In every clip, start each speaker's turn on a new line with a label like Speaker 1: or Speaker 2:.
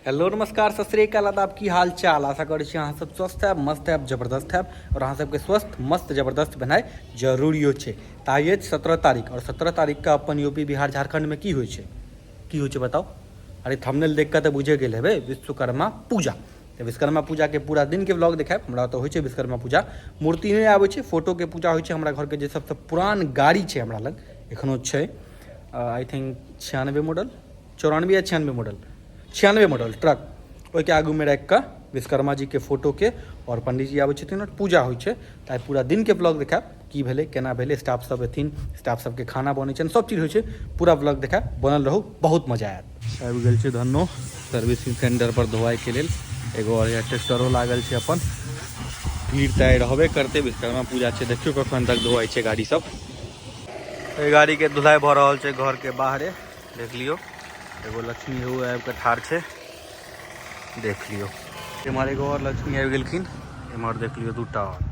Speaker 1: Hello नमस्कार सत श्रीकाल आदाब की हाल चाल आशा करै छी अहाँ सब स्वस्थ हैब मस्त हैब जबरदस्त हैब और अहाँ सबके स्वस्थ मस्त जबरदस्त भेनाइ जरूरियो छै तऽ आइ अछि सत्रह तारीख और सत्रह तारीखके अपन यू पी बिहार झारखंडमे की होइ छै की होइ छै बताउ अरे थंबनेल देख कऽ तऽ बुझे गेल हेबै विश्वकर्मा पूजा तऽ विश्वकर्मा पूजाके पूरा दिनके ब्लॉग देखायब हमरा तऽ होइ छै विश्वकर्मा पूजा मूर्ति नहि आबै छै फोटोके पूजा होइ छै हमरा घरके जे सबसँ पुरान गाड़ी छै हमरा लग एखनो छै आई थिंक छियानबे मॉडल चौरानबे या छियानबे मॉडल छियानबे मॉडल ट्रक ओहिके आगूमे राखि कऽ विश्वकर्मा जीके फोटोके आओर पंडीजी आबै छथिन आओर पूजा होइ छै तऽ आइ पूरा दिनके ब्लॉग देखायब की भेलै केना भेलै स्टाफ सब एथिन स्टाफ सबके खाना बनै छै सब चीज होइ छै पूरा ब्लॉग देखा बनल रहू बहुत मजा आयत आबि गेल छै धन्नो सर्विसिंग सेंटर पर धोवाई के लेल एगो और ट्रैक्टरो लागल छै अपन भीड़ तऽ आइ रहबे करतै विश्वकर्मा पूजा छै देखियो कखन तक धोवाई छै गाड़ी सब एहि गाड़ी के धुलाई भऽ रहल छै घर के बाहरे देख लियो एगो लक्ष्मी हो आबि कऽ ठाढ़ छै देख लियो एम्हर एगो और लक्ष्मी आबि गेलखिन एम्हर देख लियो दूटा और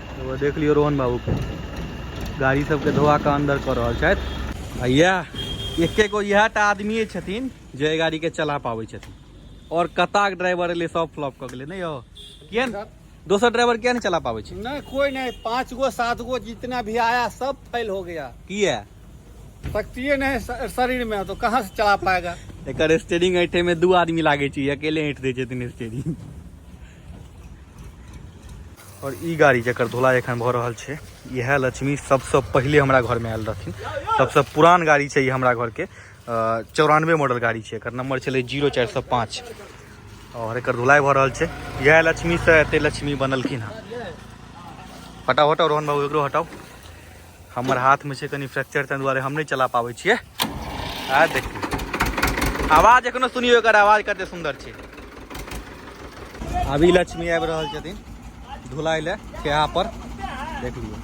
Speaker 1: एगो देख लियौ रोहन बाबू के गाड़ी सबके धोआ के अंदर कर रहल छथि आ इएह एके गो इएह टा आदमिए छथिन जे एहि गाड़ीके चला पाबै छथिन आओर कताक ड्राइवर एलै सब फ्लॉप कऽ गेलै नहि यौ किए ने दोसर ड्राइवर किए नहि चला पाबै छै नहीं कोई नहीं पांच
Speaker 2: गो सात गो जितना भी आया सब फेल हो गया किए
Speaker 1: शक्ति
Speaker 2: नहीं है श- शरीर में तो कहाँ से चला पाएगा एकर स्टेरिंग ऐठे
Speaker 1: में दू आदमी लागै छै ई अकेले ऐठ दै छथिन स्टेरिंग और ई गाड़ी जकर धुलाई एखन भऽ रहल छै इएह लक्ष्मी सबसँ पहिले हमरा घरमे आयल रहथिन सबसँ पुरान गाड़ी छै ई हमरा घरके चौरानवे मॉडल गाड़ी छै एकर नंबर छलै जीरो चारि सए पाँच आओर एकर धुलाई भऽ रहल छै इएह लक्ष्मीसँ एते लक्ष्मी बनलखिन हँ हटाउ हटाउ रोहन बाबू एकरो हटाउ हमर हाथमे छै कनि फ्रैक्चर ताहि दुआरे हम नहि चला पाबै छियै आ देखियौ आवाज एखनो सुनियौ एकर आवाज कते सुन्दर छै अभी लक्ष्मी आबि रहल छथिन धुलाइ लए खेहा पर देख लियौ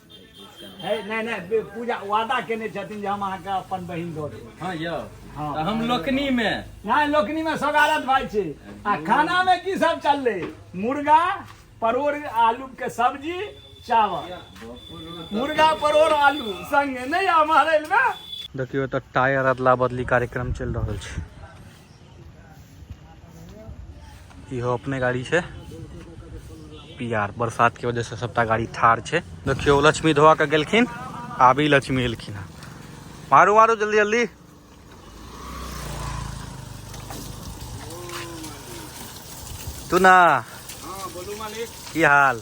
Speaker 1: है नहीं
Speaker 2: नहीं पूजा वादा केने छथिन जे हम अहाँके अपन बहिन दऽ देब हाँ यौ हाँ। तऽ
Speaker 3: हम लोकनी
Speaker 2: मे
Speaker 3: नहीं लोकनी में
Speaker 2: सगारत भाई छे आ खाना में की सब चल रहे मुर्गा परोर आलू के सब्जी चावल मुर्गा परोर आलू संगे नहीं हमारे में देखियो तऽ
Speaker 1: टायर अदला बदली कार्यक्रम चलि रहल छै इहो अपने गाड़ी छै पियार बरसातके वजहसँ सभटा गाड़ी ठार छै देखियौ लक्ष्मी धोआ कऽ गेलखिन आबी लक्ष्मी एलखिन हँ मारू मारू जल्दी जल्दी तू ना
Speaker 2: की हाल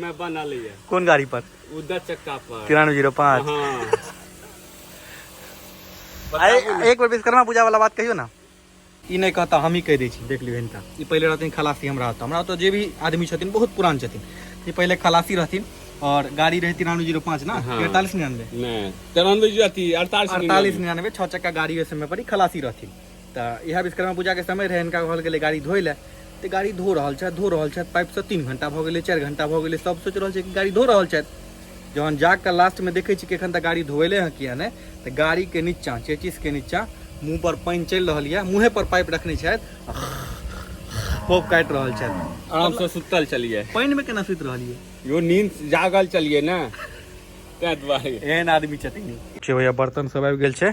Speaker 1: में
Speaker 2: बनल ये कोन गाड़ी पर उ
Speaker 1: दस चक्का पर
Speaker 2: तिरानवे जीरो
Speaker 1: पाँच हाँ आइ एक बेर विश्वकर्मा पूजा वाला बात कहियो ना ई नहि कहता हमही कहि दै छी देख लियौ हिनका ई पहिले रहथिन खलासी हमरा ओतऽ हमरा ओतऽ जे भी आदमी छथिन बहुत पुरान छथिन ई पहिले खलासी रहथिन और गाड़ी रहै तिरानवे जीरो पाँच ना हाँ। अड़तालीस निन्यानवे नहीं तिरानवे जो अथी अड़तालीस अड़तालीस निन्यानवे छः चक्का गाड़ी ओहि समय पर ई खलासी रहथिन तऽ इएह विश्वकर्मा पूजाके समय रहै हिनका कहल गेलै गाड़ी धोइ लए तऽ गाड़ी धो रहल छथि धो रहल छथि पाइपसँ तीन घण्टा भऽ गेलै चारि घण्टा भऽ गेलै सब सोचि रहल छै कि गाड़ी धो रहल छथि जहन जाकऽ लास्टमे देखै छी कि एखन तऽ गाड़ी धोएले हँ किया नहि तऽ गाड़ीके नीचाँ चेचिसके नीचाँ मुँहपर पानि चलि रहल यऽ मुँहेपर पाइप रखने छथि खोप काटि रहल छथि आरामसँ सुतल
Speaker 2: छलियै पानिमे केना सुति
Speaker 1: रहलियै यो नींद
Speaker 2: जागल छलियै ने ताहि दुआरे एहन आदमी छथिन
Speaker 1: छै भैया बर्तन सब आबि गेल छै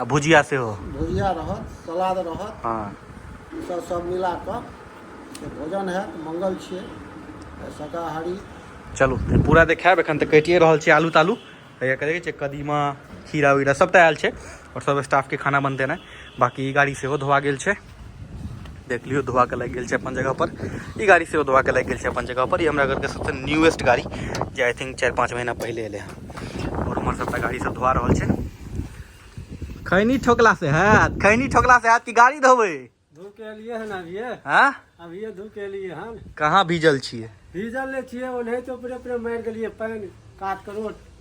Speaker 3: आ भुजिया
Speaker 1: सेहो भुजिया रहत
Speaker 3: सलाद रहत हाँ
Speaker 1: ईसभ सभ
Speaker 3: मिला कऽ से भोजन हैत मंगल छियै तऽ शाकाहारी चलू
Speaker 1: तऽ पूरा देखायब एखन तऽ कटिए रहल छै आलू तालू हैया करै छै कदीमा खीरा वीरा सभटा आयल छै आओर सभ स्टाफके खाना बनते ने बाकी ई गाड़ी सेहो धोआ गेल छै देख लियो धोआ के लग गए छै अपन जगह पर ई गाड़ी से धोआ के लग गए छै अपन जगह पर ई हमरा घर के सबसे न्यूएस्ट गाड़ी जे आई थिंक चार पाँच महीना पहले एले हैं और हमारे सबटा गाड़ी सब धोआ रहा है खैनी ठोकला से है खैनी ठोकला से है कि गाड़ी धोबे धो के लिए
Speaker 3: है ना अभी हाँ अभी
Speaker 1: धो के लिए
Speaker 3: हन कहाँ भीजल छे
Speaker 1: भीजल ले छे
Speaker 3: ओने तो पूरे पूरे मार देलिए पानी काट करोट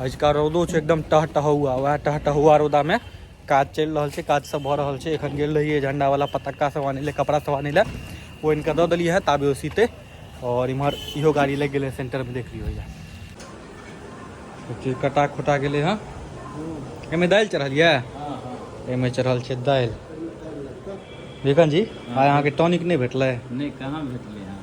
Speaker 1: अजुका रौदो छै एकदम टहटहुआ वएह टहटहुआ रौदामे काज चलि रहल छै काज सब भऽ रहल छै एखन गेल रहियै झण्डावला पतक्का सब आनै लए कपड़ा सब आनै लए ओ इनका दऽ देलियै हँ ताबे ओ सीते और इम्हर इहो गाड़ी लग गए सेंटर में देख लियो भैया कटा खुटा गए हाँ एहिमे दालि चढ़ल यऽ एहिमे चढ़ल छै दालि विकन जी आइ अहाँके टॉनिक नहीं भेटलै नहीं कहाँ भेटलै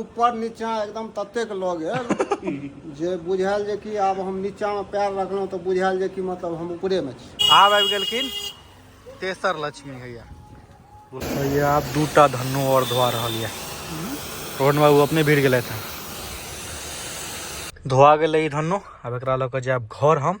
Speaker 1: ऊपर
Speaker 3: नीचा एकदम ततेक लऽ गेल जे बुझायल जे कि आब हम नीचा में पैर रखलहुँ तऽ बुझायल जे कि मतलब हम ऊपरे में छी आब आबि गेलखिन
Speaker 1: तेसर लक्ष्मी हैया हैया आब दूटा धन्नो और धोआ रहल यऽ रोहन बाबू अपने भिड़ गए थे धोआ गए धन्नो अब एक लऽ कऽ जायब घर हम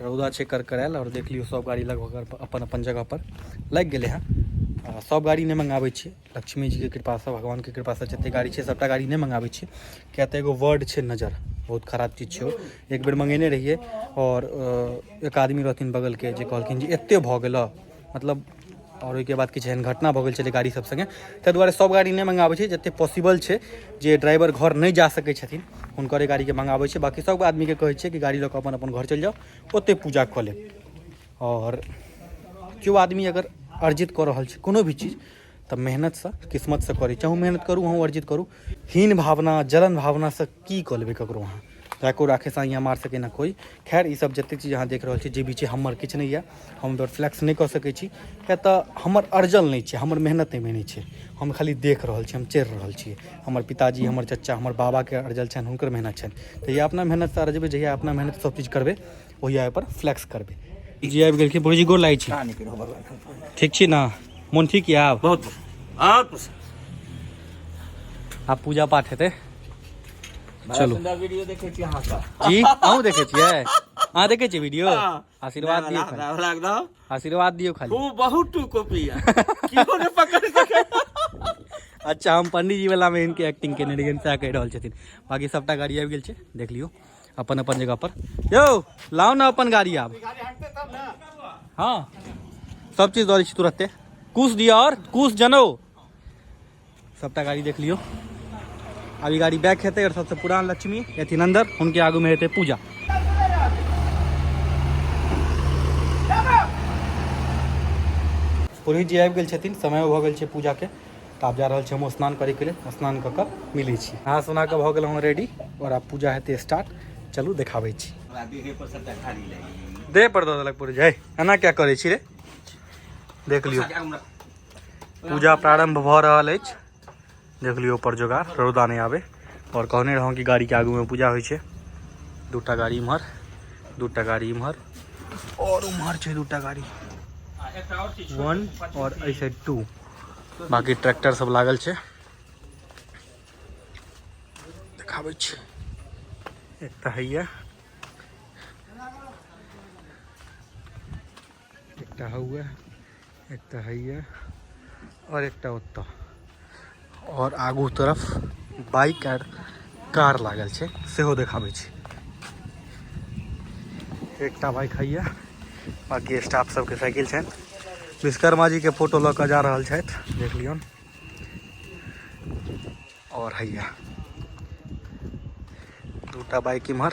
Speaker 1: रौदा छै करकरायल आओर देख लियौ सब गाड़ी लगभग अपन अपन जगह पर लागि गेलै हँ आ सब गाड़ी नहि मंगाबै छियै लक्ष्मी जी के कृपा से भगवान के कृपा से जते गाड़ी छै सबटा गाड़ी नहि मंगाबै छियै किया तऽ एगो वर्ड छै नजर बहुत खराब चीज छै ओ एक बेर मंगेने रहियै आओर अ, एक आदमी रहथिन बगल के जे कहलखिन जे एते भऽ गेलऽ मतलब आओर ओहिके बाद किछु एहन घटना भऽ गेल छलै गाड़ी सब सङ्गे ताहि दुआरे सब गाड़ी नहि मंगाबै छै जतेक पॉसिबल छै जे ड्राइवर घर नहि जा सकै छथिन हुनकरे गाड़ीके मंगाबै छै बाकी सब आदमीके कहै छै कि गाड़ी लऽ कऽ अपन अपन घर चलि जाउ ओतहि पूजा कऽ लेब आओर केओ आदमी अगर अर्जित कऽ रहल छै कोनो भी चीज तऽ मेहनतसँ किस्मतसँ करी चाहू मेहनत करू अहूँ अर्जित करू हीन भावना जलन भावनासँ की कऽ लेबै ककरो अहाँ राखो राखे साँ यहाँ मार सके ना कोई खैर ई सब जते चीज अहाँ देख रहल छी जे भी छै हमर किछु नहि यऽ हम एहिपर फ्लैक्स नहि कऽ सकै छी किया तऽ हमर अर्जल नहि छै हमर मेहनत एहिमे नहि छै हम खाली देख रहल छी हम चढ़ि रहल छी हमर पिताजी हमर चचा हमर बाबाके अर्जल छनि हुनकर मेहनत छनि तऽ या अपना मेहनतसँ अर्जबै जहिया अपना मेहनत सब चीज करबै ओहिया पर फ्लैक्स करबे जी आबि गेलखिन भौजी गोर लागै छी ठीक छी ना मोन ठीक यऽ आब बहुत आब
Speaker 4: आब
Speaker 1: पूजा पाठ हेतै चलू वीडियो देखै
Speaker 4: छी अहाँ सब जी अहूँ देखै छियै
Speaker 1: अहाँ देखै छियै वीडियो हाँ। आशीर्वाद दियौ खाली आशीर्वाद
Speaker 4: दियौ खाली
Speaker 1: ओ बहुत टू कॉपी
Speaker 4: कियो ने पकड़ सकै
Speaker 1: अच्छा हम पंडीजी वाला में इनके एक्टिंग केने रहियनि सएह कहि रहल छथिन बाकी सबटा गाड़ी आबि गेल छै देख लियौ अपन अपन जगह पर यौ लाओ ना अपन गाड़ी आब हाँ सब चीज दौड़ छी तुरते कुश दिया और कुश जनो सबटा गाड़ी देख लियो अभी गाड़ी बैक हेतै और सबसे पुरान लक्ष्मी एथिन अंदर उनके आगू में हेतै पूजा पुरोहित जी आबि गेल छथिन समय भऽ गेल छै पूजाके तऽ आब जा रहल छी हम स्नान करैके लेल स्नान कऽ कऽ मिलै छी नहा सुना कऽ भऽ गेलहुँ रेडी आओर आब पूजा हेतै स्टार्ट चलू देखाबै छी देह पर दऽ देलक पूरी जय एना क्या करै छी रे देख लियौ पूजा प्रारंभ भऽ रहल अछि देख लियौ पर जोगाड़ रौदा नहि आबे आओर कहने रहौं कि गाड़ीके आगूमे पूजा होइ छै दूटा गाड़ी इम्हर दूटा गाड़ी इम्हर आओर उम्हर छै दूटा गाड़ी वन आओर एहि साइड टू बाकी ट्रैक्टर सब लागल छै देखाबै छी एक तऽ हैया एकटा हौए एकटा हैया आओर एकटा ओतऽ आओर आगू तरफ बाइक आर कार लागल छै सेहो देखाबै छी एकटा बाइक हैया बाकी स्टाफ सबके साइकिल छनि विश्वकर्मा जीके फोटो लऽ कऽ जा रहल छथि देख लियौन आओर हैया दूटा बाइक इम्हर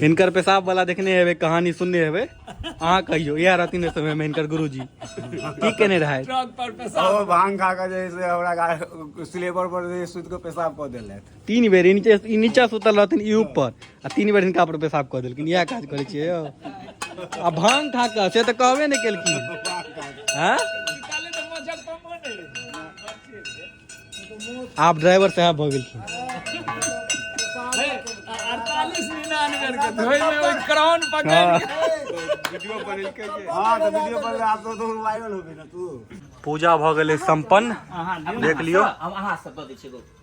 Speaker 1: हिनकर पेशाब वाला देखने हेबे कहानी सुनने हेबे अहा कहियो इएह रहथिन समय में हिनकर गुरुजी की केने रहे ट्रक पर पेशाब ओ
Speaker 2: भांग खा के जे से
Speaker 5: हमरा सिलेबर पर सुत के पेशाब कऽ देलथि तीन बेर ई नीचे ई
Speaker 1: नीचा सुतल रहथिन ई ऊपर आ तीन बेर हिनका पर पेशाब कऽ देलखिन इएह काज करै छियै यौ आ भांग खा कऽ से तऽ कहबे नहि केलखिन हैं
Speaker 2: आप ड्राइवर साहब भऽ
Speaker 1: गेलखिन क्राउन पकड़
Speaker 2: हाँ। वीडियो बनेलकै जे हां तऽ वीडियो बनले आब तऽ तू वायरल होबे
Speaker 5: ना तू पूजा भऽ गेलै
Speaker 1: संपन्न देख लियौ हम अहाँ सब दऽ दै छियै एगो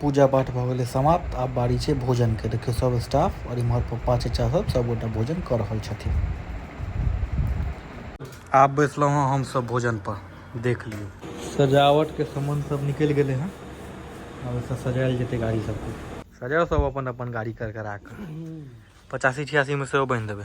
Speaker 1: पूजा पाठ भऽ गेलै समाप्त आब बारी छै भोजन के देखियौ सब स्टाफ और इम्हर पप्पा चचा सब सब गोटा भोजन कऽ रहल छथिन आब बैसलहुँ हँ हम सब भोजन पर देख लियौ सजावट के सामान सब निकल गेले हैं अब ऐसा सजायल जेते गाड़ी सब को सजाओ सब अपन अपन गाड़ी कर करा कर पचासी छियासी में से बन देवे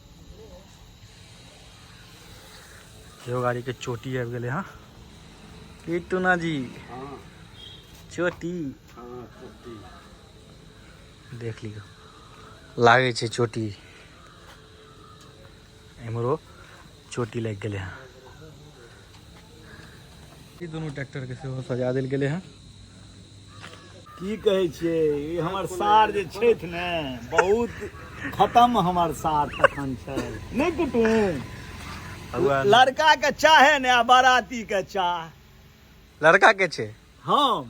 Speaker 1: यो गाड़ी के चोटी आबि गेलै हँ की टूना जी हाँ चोटी हाँ छोटी देख लियो लागै छै चोटी एम्हरो चोटी लागि गेलै हँ ई दुनू ट्रैक्टर के सेहो सजा देल गेलै हँ
Speaker 2: की कहै छियै ई हमर सार जे छथि ने बहुत खतम हमर सार तखन छै नहि कुटुम लड़का के चाहे ने आ बाराती के चाह लड़का के छै
Speaker 1: हम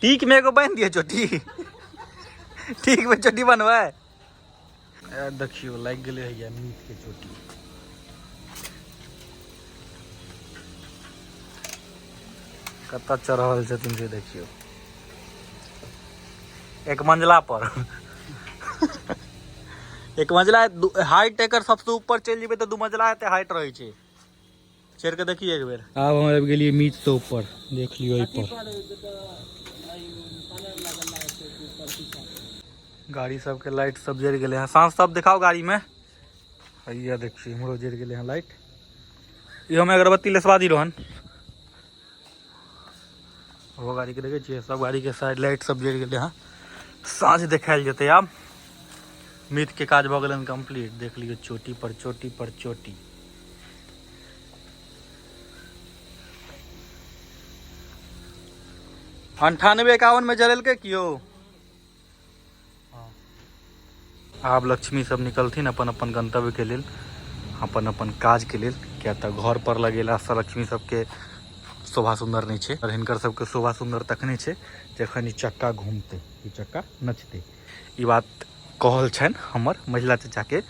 Speaker 1: टीक में एगो बांध दिए चोटी टीक में चोटी बनवे ए, देखियो लाग गेले है या मीट के चोटी कत चढ़ल छथिन से देखियो एक मंजिला पर एक मंजिला हाइट एकर सबसे ऊपर चलि जेबै तऽ दू मंजिला एते हाइट रहै छै चढ़ के देखिए एक बेर आब हम आबि गेलियै मीट से ऊपर देख लियो एहि पर गाड़ी सबके लाइट सब जरि गेलै हँ साँझ सब देखाओ गाड़ीमे हैया देखियो इम्हरो जरि गेलै हँ लाइट इहोमे अगरबत्ती लेसवा दी रोहन ओहो गाड़ीके देखै छियै सब गाड़ीके साइड लाइट सब जरि गेलै हँ साँझ देखायल जेतै आब मिथके काज भऽ गेलनि कम्प्लीट देख लियौ चोटी पर चोटी पर चोटी अंठानवे एकावन में जरेलकै कियो आब लक्ष्मी सब निकलथिन अपन अपन गंतव्य के लेल अपन अपन काज के लेल क्या तऽ घर पर लगेला से लक्ष्मी सबके शोभा सुंदर नहीं है और हिनकर सबके शोभा सुंदर तखने है जखन चक्का घूमते ई चक्का नचते ई बात कहल छन हमर महिला चचा के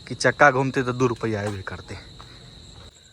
Speaker 1: कि चक्का घूमते तो दू रुपया अबे करते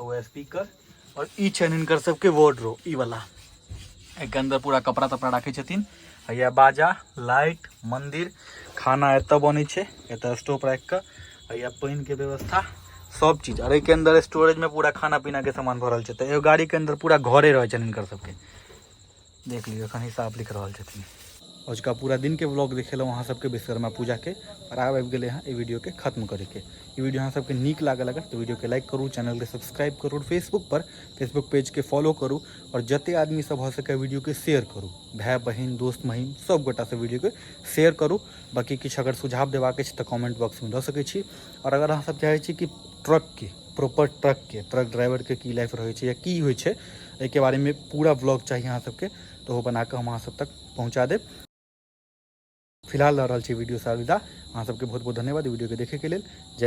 Speaker 1: हुए स्पीकर और ई छनि हिनकर सबके वार्डरो ई वाला एक अंदर पूरा कपड़ा तपड़ा राखे छथिन हैया बाजा लाइट मंदिर खाना एत बने छै एत स्टोव राख के हैया पानि के व्यवस्था सब चीज और एक अंदर स्टोरेज में पूरा खाना पीना के सामान भरल छै तो एगो गाड़ी के अंदर पूरा घरे रहे छनि हिनकर सबके देख लियौ एखन हिसाब लिख रहल छथिन अजुका पूरा दिनके ब्लॉग देखेलहुँ अहाँ सबके विश्वकर्मा पूजाके और आब आबि गेलै हँ वीडियो के खत्म करैके ई वीडियो अहाँ सबके नीक लागल अगर तऽ वीडियोके लाइक करू चैनलके सब्सक्राइब करू और फेसबुक पर फेसबुक पेजके फॉलो करू और जते आदमी सब भऽ सकै वीडियोके शेयर करू भाय बहिन दोस्त महीम सब गोटासँ वीडियोके शेयर करू बाकी किछु अगर सुझाव देबाक अछि तऽ कमेंट बॉक्समे दऽ सकै छी और अगर अहाँ सब चाहै छी कि ट्रकके प्रॉपर ट्रकके ट्रक ड्राइवरके की लाइफ रहै छै या की होइ छै एहिके बारेमे पूरा ब्लॉग चाही अहाँ सबके तऽ ओहो बनाकऽ हम अहाँ सब तक पहुँचा देब फिलहाल लऽ रहल छी वीडियोसँ अलविदा अहाँ सबके बहुत बहुत धन्यवाद वीडियोके देखैके लेल जय